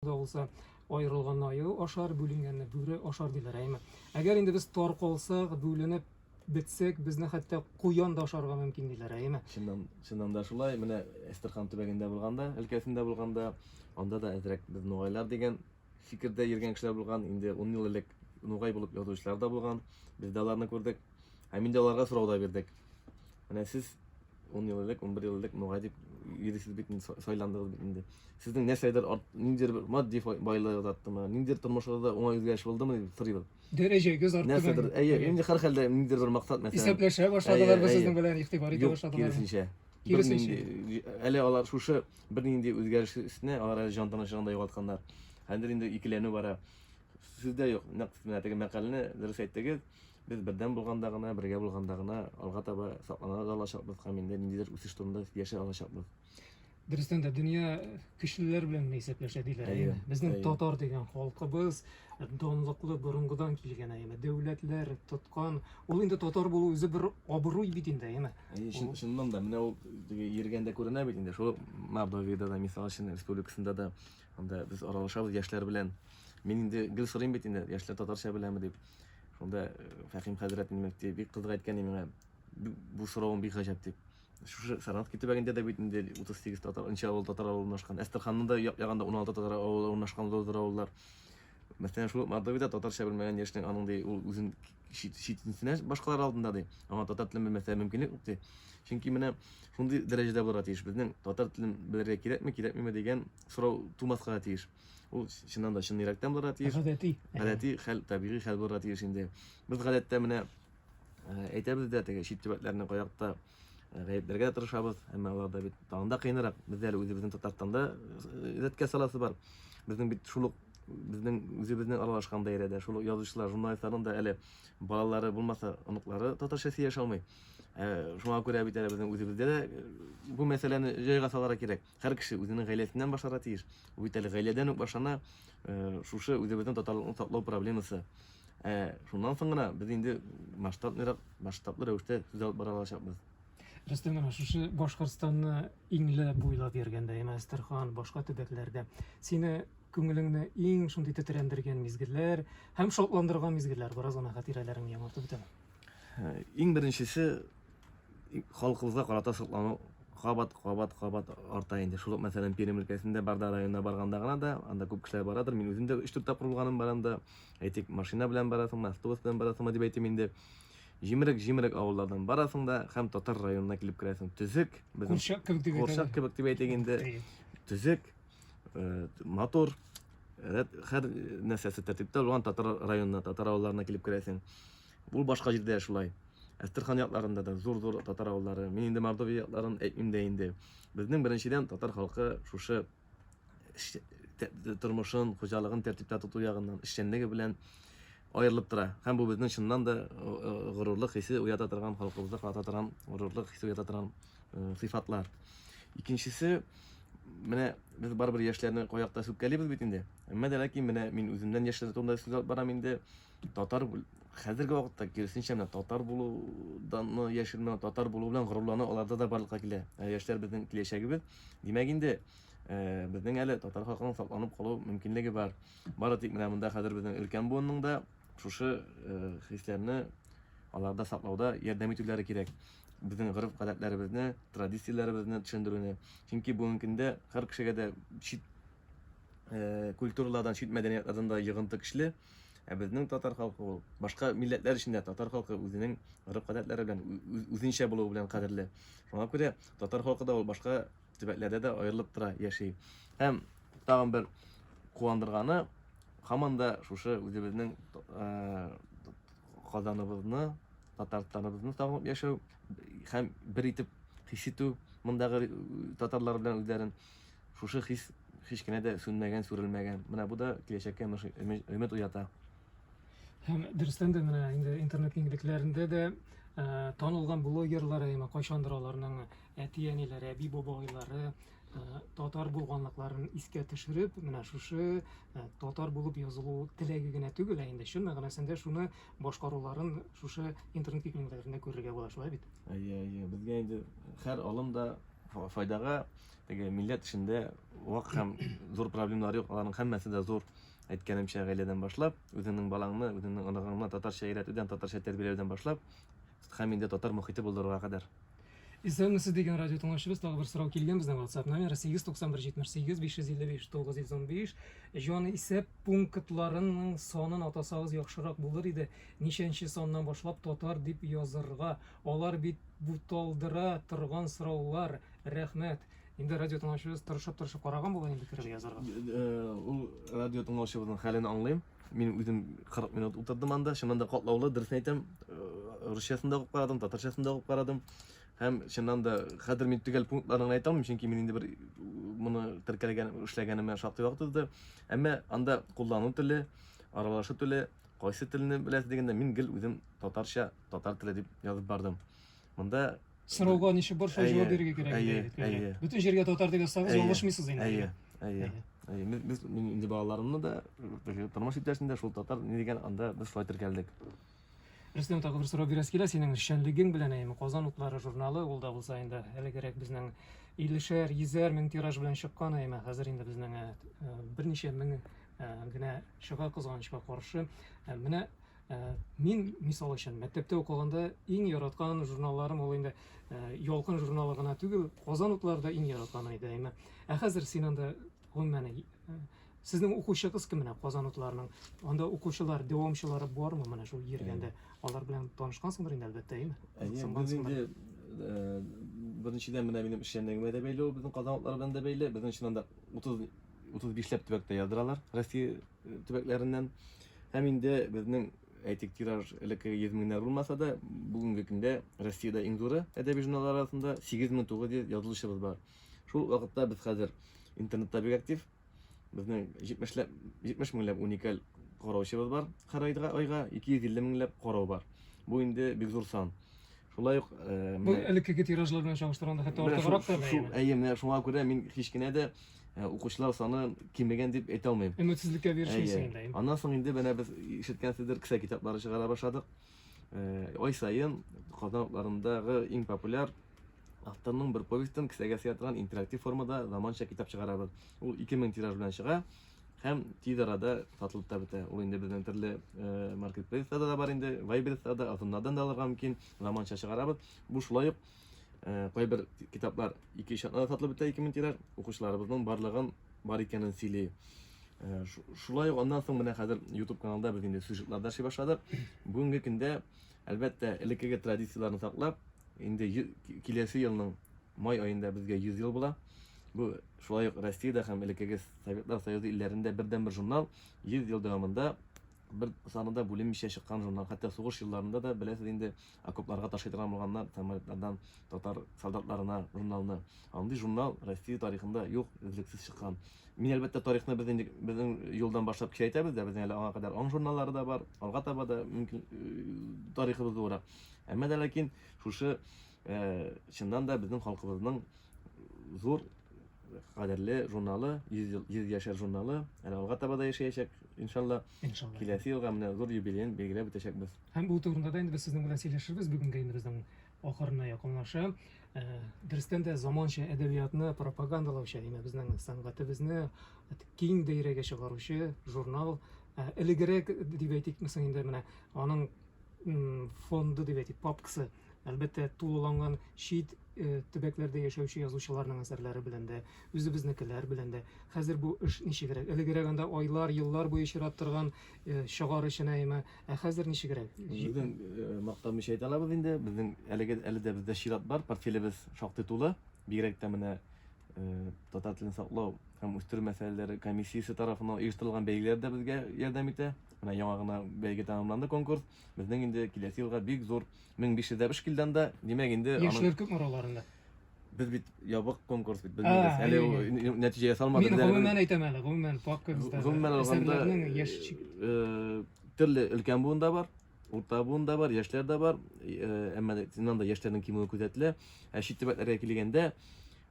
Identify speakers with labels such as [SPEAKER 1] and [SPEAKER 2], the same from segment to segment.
[SPEAKER 1] да булса, аерылганны аю ашар, бүленгәнне бүре ашар диләр, әйме? Әгәр инде без таркалсак, бүленеп бетсәк, безне хәтта куян да ашарга мөмкин диләр, әйме? Чыннан, чыннан да шулай,
[SPEAKER 2] менә Әстерхан төбәгендә булганда, өлкәсендә булганда, анда да әзрәк без нугайлар дигән фикердә йөргән кешеләр булган, инде 10 ел элек нугай булып язучылар да булган, без дә аларны күрдек. Һәм инде аларга сорау да бирдек. Менә сез 10 ел элек, 11 ел элек мөгадип йөрисез бит инде, сайландыгыз бит инде. Сезнең нәрсәдер арт, ниндидер бер матди байлыгы арттымы, ниндидер тормышыгызда уңай үзгәреш булдымы дип сорыйбыз. Дәрәҗәгез артты.
[SPEAKER 1] Нәрсәдер, әйе, инде һәр
[SPEAKER 2] хәлдә ниндидер бер максат мәсәлән. Исәпләшә башладылар без
[SPEAKER 1] сезнең белән, игътибар итә башладылар. Киресенчә. Киресенчә.
[SPEAKER 2] Әле алар шушы бернинди үзгәреш өстенә алар әле җан тынычлыгын да югалтканнар. Хәзер инде икеләнү бара. Сездә юк. Нәкъ менә теге мәкаләне дөрес әйттегез. Без бердәм булганда гына, бергә булганда гына алга таба саклана да алачакбыз һәм инде ниндидер үсеш турында сөйләшә алачакбыз. Дөрестән дә
[SPEAKER 1] дөнья көчлеләр белән генә исәпләшә диләр. Әйе, Әйеме? Безнең әйе. татар дигән халкыбыз данлыклы борынгыдан килгән әйеме? Дәүләтләр тоткан. Ул инде татар булу үзе бер абруй бит инде, әйеме? Әйе, чын, чыннан да, менә
[SPEAKER 2] ул теге йөргәндә күренә бит инде, шул Мордовиядә дә, мисал өчен, республикасында да, анда без аралашабыз яшьләр белән. Мин инде гел сорыйм бит инде, яшьләр татарча беләме дип. Шунда э, Фәхим хәзрәт минем бик кызык әйткән иде миңа. Бу соравым бик гаҗәп дип. Шушы Саратовки төбәгендә дә бит инде 38 татар, нче авыл татар авылы урнашкан. Әстерханның да ягында 16 татар авылы урнашкан зур авыллар. Мәсәлән, шул Мордовиядә татарча белмәгән яшьнең аның ди, ул үзен читенсенә башкалар алдында ди. Аңа татар телен белмәсә мөмкинлек юк ди. Чөнки менә шундый дәрәҗәдә булырга тиеш. Безнең татар телен белергә кирәкме, кирәкмиме дигән сорау тумаска тиеш. Ул чыннан да чын йөрәктән булырга тиеш. Гадәти. Гадәти хәл, табигый хәл булырга тиеш инде. Без гадәттә менә әйтәбез дә теге чит төбәкләрне каякта гаепләргә дә тырышабыз, әмма аларда бит тагын да кыенрак. Бездә әле үзебезнең Татарстанда рәткә саласы бар. Безнең бит шул ук безнең үзебезнең аралашкан даирәдә шул ук язучылар, журналистларның да әле балалары булмаса, оныклары татарча сөйләшә алмый. Шуңа күрә бит әле безнең үзебездә дә бу мәсьәләне җайга салырга кирәк. Һәр кеше үзенең гаиләсеннән башларга тиеш. Бу бит әле гаиләдән үк башлана, шушы үзебезнең татарлыкны саклау проблемасы. Ә шуннан соң гына без инде масштабныйрак, масштаблы рәвештә сүз алып бара алачакбыз. Рөстәм, менә
[SPEAKER 1] шушы Башкортстанны иңле буйлап йөргәндә, яме Әстерхан, башка төбәкләрдә сине күңелеңне иң шундый тетрәндергән мизгелләр һәм шатландырган мизгелләр, бераз ана хатирәләреңне яңартып үтәме? Иң беренчесе
[SPEAKER 2] халкыбызга карата соклану кабат кабат кабат арта инде шул ук мәсәлән пермь өлкәсендә барда районына барганда гына да анда күп кешеләр барадыр мин үзем дә өч дүрт тапкыр булганым бар анда әйтик машина белән барасыңмы автобус белән барасыңмы дип әйтим инде җимерек җимерек авыллардан барасың да һәм татар районына килеп керәсең төзек безнең
[SPEAKER 1] курчак кебек дип
[SPEAKER 2] әйтик инде төзек э, матур һәр нәрсәсе тәртиптә булган татар районына татар авылларына килеп керәсең Бу башка җирдә дә шулай. Әстерхан якларында да зур-зур татар авыллары. Мин инде Мордовия якларын әйтмим дә инде. Безнең беренчедән татар халкы шушы тормышын, хуҗалыгын тәртиптә тоту ягыннан, эшчәнлеге белән аерылып тора. Һәм бу безнең чыннан да горурлык хисе уята торган, халкыбызда ката торган горурлык хисе уята торган сыйфатлар. Икенчесе, менә без барыбер яшьләрне каякта сүккәлибез бит инде. Әмма дә ләкин менә мин үземнән яшьләр турында сүз алып барам инде. Татар хәзерге вакытта киресенчә менә татар булудан яшермә, татар булу белән горурлану аларда да барлыкка килә. Ә яшьләр безнең киләчәгебез. Димәк инде э, безнең әле татар халкының сакланып калу мөмкинлеге бар. Бары тик менә монда хәзер безнең өлкән буынның да шушы э, хисләрне аларда саклауда ярдәм итүләре кирәк. Безнең гореф гадәтләребезне, традицияләребезне төшендерүне. Чөнки бүгенге көндә һәр кешегә дә чит э, культуралардан, чит мәдәниятардан да йогынты көчле. Ә безнең татар халкы ул башка милләтләр өчен дә татар халкы үзенең гореф-гадәтләре белән, үзенчә булуы белән кадерле. Шуңа күрә татар халкы да ул башка төбәкләрдә дә аерылып тора, яши. Һәм тагын бер куандырганы, һаман да шушы үзебезнең Казаныбызны, Татарстаныбызны сагынып яшәү һәм бер итеп хис итү мондагы татарлар белән үзләрен. Шушы хис һич кенә дә сүнмәгән, сүрелмәгән. Менә бу да киләчәккә өмет уята. Һәм
[SPEAKER 1] дөрестән дә менә инде интернет киңлекләрендә дә ә, танылган блогерлар әйме кайчандыр аларның әти-әниләре, әби-бабайлары ә, татар булганлыкларын искә төшереп, менә шушы ә, татар булып язылу теләге генә түгел, ә инде чын мәгънәсендә шуны башкаруларын шушы интернет киңлекләрендә күрергә була,
[SPEAKER 2] шулай бит?
[SPEAKER 1] Әйе, әйе.
[SPEAKER 2] Безгә
[SPEAKER 1] инде һәр алым
[SPEAKER 2] да файдага теге милләт эшендә вак һәм зур проблемалар юк аларның һәммәсе дә зур әйткәнемчә гаиләдән башлап үзеңнең балаңны үзеңнең оныгыңны татарча өйрәтүдән татарча тәрбияләүдән башлап һәм инде татар мохите булдыруга кадәр Исәнмесез
[SPEAKER 1] дигән радио тыңлаучыбыз тагы бер сорау килгән безнең WhatsApp номеры 89178595595. Җан исәп пунктларының санын атасагыз яхшырак булыр иде. Ничәнче саннан башлап татар дип язырга? Алар бит буталдыра торган сораулар, рәхмәт. Инде радио тыңлаучыбыз тырышып-тырышып караган булыр инде кереп язарга. Ул
[SPEAKER 2] радио тыңлаучыбызның хәлен аңлыйм. Мин үзем 40 минут утырдым анда, чыннан да катлаулы, дөресен әйтәм. Русчасын да укып карадым, татарчасын да укып карадым. Һәм чыннан да хәзер мин төгәл пунктларын әйтә алмыйм, чөнки мин инде бер моны теркәлгән, эшләгәнемә шактый вакыт узды. Әмма анда куллану теле, аралашу теле, кайсы телне беләсез дигәндә, мин гел үзем татарча Татар теле дип язып бардым. Монда сорауга ничек
[SPEAKER 1] барса җавап бирергә кирәк. Әйе, әйе. Бөтен җиргә татар дип язсагыз, ялгышмыйсыз инде. Әйе, әйе. Без инде балаларымны
[SPEAKER 2] да, тормыш иптәшне дә шул татар ни дигән анда без шулай теркәлдек. Рөстәм
[SPEAKER 1] тагы бер сорау бирәсе килә синең эшчәнлегең белән әйме Казан утлары журналы ул да булса инде әлегерәк безнең иллешәр, йөзәр мең тираж белән чыккан әйме хәзер инде безнең э, э, берничә мең э, генә чыга кызганычка каршы. Менә Мин, мисал өчен, мәктәптә укыганда иң яраткан журналларым ул инде Ялкын журналы гына түгел, Казан утлары да иң яратканы иде, әйме. Ә хәзер син анда, гомумән, сезнең укучыгыз кем менә Казан утларының? Анда укучылар, дәвамчылары бармы менә шул Йөргәндә? Алар белән танышкансыңдыр инде, әлбәттә, әйме? Әйе, без инде
[SPEAKER 2] беренчедән менә минем эшчәнлегемә дә бәйле ул, безнең Казан утлары белән дә бәйле. Безнең чыннан да 30 35 ләп төбәктә яздыралар Россия төбәкләреннән. Һәм инде безнең әйтик тираж элеккеге 100 меңнәр булмаса да, бүгенге көндә Россиядә иң зуры әдәби журналлар арасында 8900 язылучыбыз бар. Шул вакытта без хәзер интернетта бик актив. Безнең 70 ләп 70 меңләп уникаль караучыбыз бар. Һәр айга айга 250 меңләп карау бар. Бу инде бик зур сан. Шулай ук Бу элеккеге
[SPEAKER 1] тиражлар белән чагыштырганда хәтта артыграк та. Әйе, менә шуңа күрә мин
[SPEAKER 2] һич кенә дә Укучылар саны кимегән дип әйтә алмыйм. Өметсезлеккә бирешмисең
[SPEAKER 1] инде. Әйе. Аннан соң инде менә без
[SPEAKER 2] ишеткәнсездер, кесә китаплары чыгара башладык. Ай саен Казан утларындагы иң популяр авторның бер повестен кесәгә сыя торган интерактив формада заманча китап чыгарабыз. Ул 2000 тираж белән чыга һәм тиз арада сатылып та бетә. Ул инде безнең төрле маркетплейсларда да бар инде, вайберста да, озоннардан да алырга мөмкин, заманча чыгарабыз. Бу шулай ук Э, кайбер китаплар ике өч атнада сатылып бетә ике мең тираж укучыларыбызның барлыгын бар икәнен сөйли э, шулай ук аннан соң менә хәзер ютуб каналда без инде сюжетлар да эшли башладык бүгенге көндә әлбәттә элеккеге традицияләрне саклап инде киләсе елның май аенда безгә 100 ел була бу шулай ук россиядә һәм элеккеге советлар союзы илләрендә бердән бер журнал 100 ел дәвамында бер санында бүленмичә чыккан журнал хәтта сугыш елларында да беләсез инде Окопларга ташый торган булганнар, самолетлардан татар солдатларына журналны. Андый журнал Россия тарихында юк, өзлексез чыккан. Мин, әлбәттә, тарихны без нинди, безнең юлдан башлап кичәйтәбез дә, безнең әле аңа кадәр аң журналлары да бар, алга таба да мөмкин тарихыбыз буларак. Әмма да ләкин шушы чыннан да безнең халкыбызның зур кадерле журналы, 100 ел 100 яшәр журналы. Әле алга таба да яшәячәк, иншалла. Иншалла. Киләсе елга менә зур юбилеен билгеләп үтәчәкбез. Һәм бу турында да инде
[SPEAKER 1] без сезнең белән сөйләшербез. Бүгенге инде безнең ахырына якынлаша. Э, Дөрестән дә заманча әдәбиятны пропагандалаучы, яме безнең сәнгатебезне киң даирәгә чыгаручы журнал. Э, Элегрәк дип әйтик, мисаң инде менә аның м, фонды дип әйтик, папкасы. Әлбәттә, тулыланган чит э, төбәкләрдә яшәүче язучыларның әсәрләре белән дә, үзебезнекеләр белән дә. Хәзер бу эш ничегрәк? Элегрәк анда айлар, еллар буе чират торган э, чыгар өчен әйме, ә хәзер ничегрәк? Безнең э,
[SPEAKER 2] мактанмыйча әйтә алабыз инде. Безнең әлеге әле дә бездә чират бар, портфелебез шактый тулы. Бигрәк тә менә э, татар телен саклау һәм үстерү мәсьәләләре комиссиясе тарафыннан оештырылган бәйгеләр дә безгә ярдәм итә. Менә яңа гына бәйге тәмамланды конкурс. Безнең инде киләсе елга бик зур 1500 дә бшкилдан да, димәк инде аның... Яшьләр күпме араларында?
[SPEAKER 1] Без бит
[SPEAKER 2] ябык конкурс бит, белмибез. Әле ул нәтиҗә ясалмады. Мин гомумән әйтәм әле,
[SPEAKER 1] гомумән папкабызда. Гомумән алганда,
[SPEAKER 2] төрле өлкән буын да бар, урта буын да бар, яшьләр дә бар. Әмма синнан да яшьләрнең кимүе күзәтелә. Ә чит төбәкләргә килгәндә,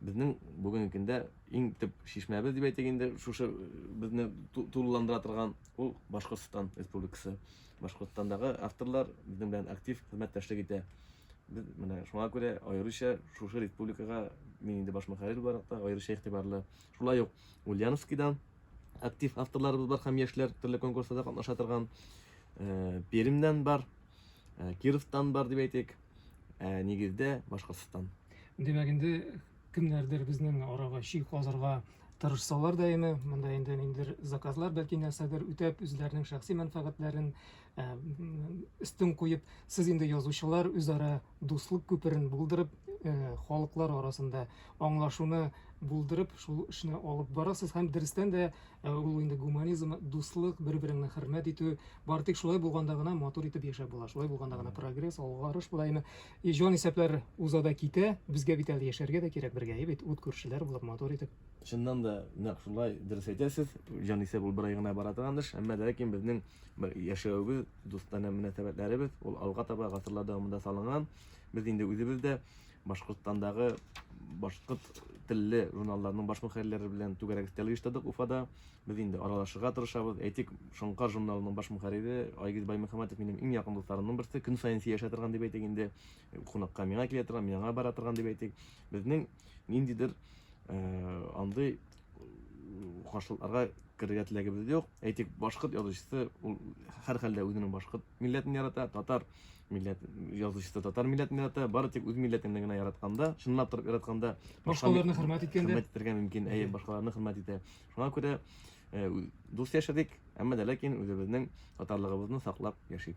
[SPEAKER 2] безнең бүгенге көндә иң төп шишмәбез дип әйтик инде, шушы безне тулыландыра торган ул Башкортстан Республикасы. Башкортстандагы авторлар безнең белән актив хезмәттәшлек итә. Без менә шуңа күрә аеруча шушы республикага мин инде баш мөхәррир буларак та аеруча игътибарлы. Шулай ук Ульяновскидан актив авторларыбыз бар һәм яшьләр төрле конкурсларда катнаша торган. Э, Пермьдән бар, э, Кировтан бар дип әйтик. Ә нигездә Башкортстан. Димәк, инде
[SPEAKER 1] Кемнәрдер безнең арага чи казырга тырышсалар да яме, монда инде ниндидер заказлар, бәлки нәрсәдер үтәп, үзләренең шәхси мәнфәгатьләрен э, өстен куеп, сез инде язучылар үзара дуслык күперен булдырып, э, халыклар арасында аңлашуны булдырып, шул эшне алып барасыз һәм дөрестән дә э, ул инде гуманизм, дуслык, бер-береңне хөрмәт итү, бар тик шулай булганда гына матур итеп яшәп була, шулай булганда гына прогресс, алгарыш була. Яме И җан исәпләр уза да китә, безгә бит әле яшәргә дә кирәк бергә, әйе бит, ут күршеләр булып, матур итеп. Чыннан да,
[SPEAKER 2] нәкъ шулай, дөрес әйтәсез, җанисәп ул бер ай гына бара торган эш, әмма ләкин безнең яшәвебез, дустанә мөнәсәбәтләребез, ул алга таба гасырлар дәвамында салынган, без инде үзебез дә Башкортстандагы башкорт телле журналларның баш мөхәррирләре белән түгәрәк өстәл оештырдык Уфада. Без инде аралашырга тырышабыз. Әйтик, Шоңкар журналының баш мөхәррире Айгиз Баймөхәммәтов минем иң якын дусларымның берсе, көн саен сөйләшә торган дип әйтик инде, кунакка миңа килә торган, мин аңа бара торган дип әйтик. Безнең ниндидер андый каршылыкларга керергә теләгебез дә юк. Әйтик, башкорт язучысы, ул һәрхәлдә үзенең башкорт милләтен ярата, татар милләт язучысы татар милләтен ярата, бары тик үз милләтеңне генә яратканда, чынлап торып яратканда, Башкаларны хөрмәт
[SPEAKER 1] иткәндә. хөрмәт итәргә мөмкин, әйе,
[SPEAKER 2] башкаларны хөрмәт итә. Шуңа күрә дус яшәдек, әмма дә ләкин үзебезнең татарлыгыбызны саклап яшик.